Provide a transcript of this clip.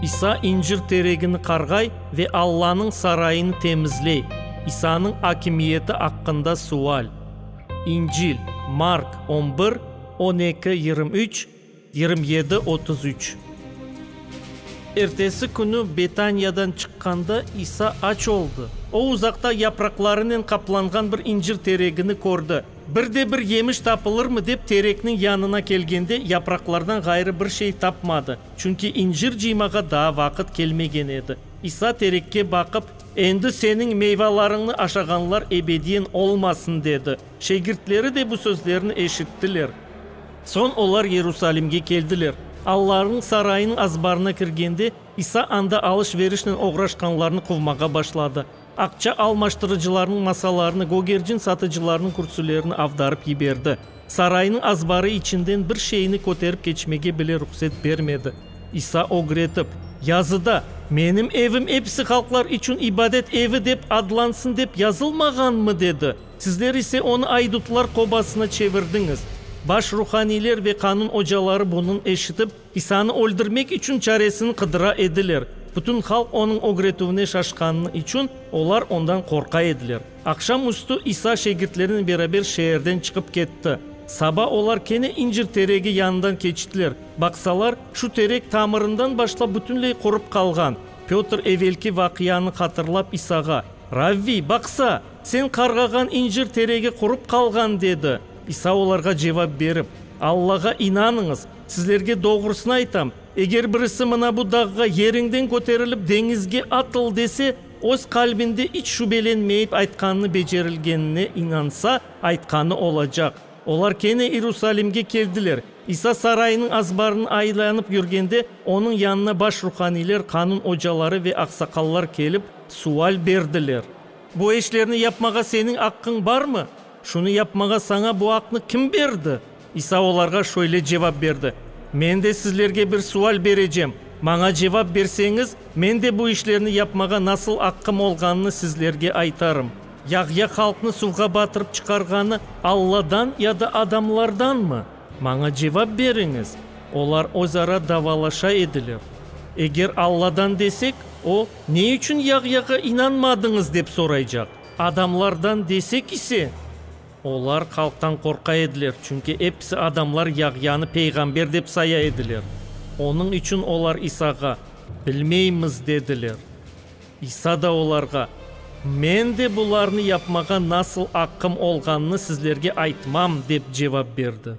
İsa incir teregini qarğay ve Allanıñ sarayını temizley. İsanıñ akimiyeti aqqında sual. İncil, Mark on bir, on eki, yirmi üç, yirmi yedi, otuz üç. Ertesi künü Betaniyadan çıqqanda İsa aç oldı. O, uzaqta yapraqlarınen qaplanğan bir incir teregini kördi. Bir de bir yemiş tapılırmı dep terekniñ yanına kelgende, yapraqlardan ğayrı bir şey tapmadı, çünki incir cıymağa daa vaqıt kelmegen edi. İsa terekke baqıp. Endi seniñ meyvalarıñnı aşağanlar ebediyen olmasın, dedi. Şegirtleri de bu sözlerni eşittiler. Soñ olar Yerusalimge keldiler. Allarnıñ sarayınıñ azbarına kirgende, İsa anda alış-verişnen oğraşqanlarnı quvmağa başladı. Aqça almaştırıcılarnıñ masalarını, gogercin satıcılarnıñ kürsülerini avdarıp yiberdi. Saraynıñ azbarı içinden bir şeyni köterip keçmege bile ruhset bermedi. İsa ögretip, Yazıda, Menim evim episi halqlar içün ibadet evi dep adlansın dep yazılmağanmı? dedi. Sizler ise onı aydutlar qobasına çevirdiñiz. Baş ruhaniyler ve qanun ocaları bunıñ eşitip. İsanı öldürmek içün çaresini qıdıra ediler. Bütün halq onıñ ögretüvine şaşqanı içün, olar ondan qorqa ediler. Aqşam üstü İsa şegirtlerinen beraber şeerden çıqıp ketti. Saba olar kene incir teregi yanından keçtiler. Baqsalar, şu terek tamırından başlap bütünley qurıp qalğan. Petr evelki vaqianı hatırlap İsağa, Ravviy, baqsa, sen qarğağan incir teregi qurıp qalğan, dedi. İsa olarğa cevap berip, Allağa inanıñız! Sizlerge doğrusını aytam, eger birisi mına bu dağğa, Yeriñden köterilip, deñizge atıl, dese, öz qalbinde iç şübelenmeyip aytqanı becerilgenine inansa, aytqanı olacaq. Olar kene İrusalimge keldiler. İsa sarayınıñ azbarını aylanıp yürgende, onıñ yanına baş ruhaniyler, qanun ocaları ve aqsaqallar kelip, sual berdiler. Bu işlerni yapmağa seniñ aqqıñ barmı? Şunı yapmağa saña bu aqnı kim berdi? İsa olarğa şöyle cevap berdi, Men de sizlerge bir sual berecem. Maña cevap berseñiz, men de bu işlerni yapmağa nasıl aqqım olğanını sizlerge aytarım. Yahya halqnı suvğa batırıp çıqarğanı Alladan ya da adamlardanmı? Maña cevap beriñiz! Olar özara davalaşa ediler. Eger Alladan desek, o, Ne içün Yahyağa inanmadıñız? dep soraycaq. Adamlardan desek ise. Olar halqtan qorqa ediler, çünki episi adamlar Yahyanı peyğamber dep saya ediler. Onıñ içün olar İsağa, Bilmeymiz, dediler. İsa da olarğa, Men de bularnı yapmağa nasıl aqqım olğanını sizlerge aytmam, dep cevap berdi.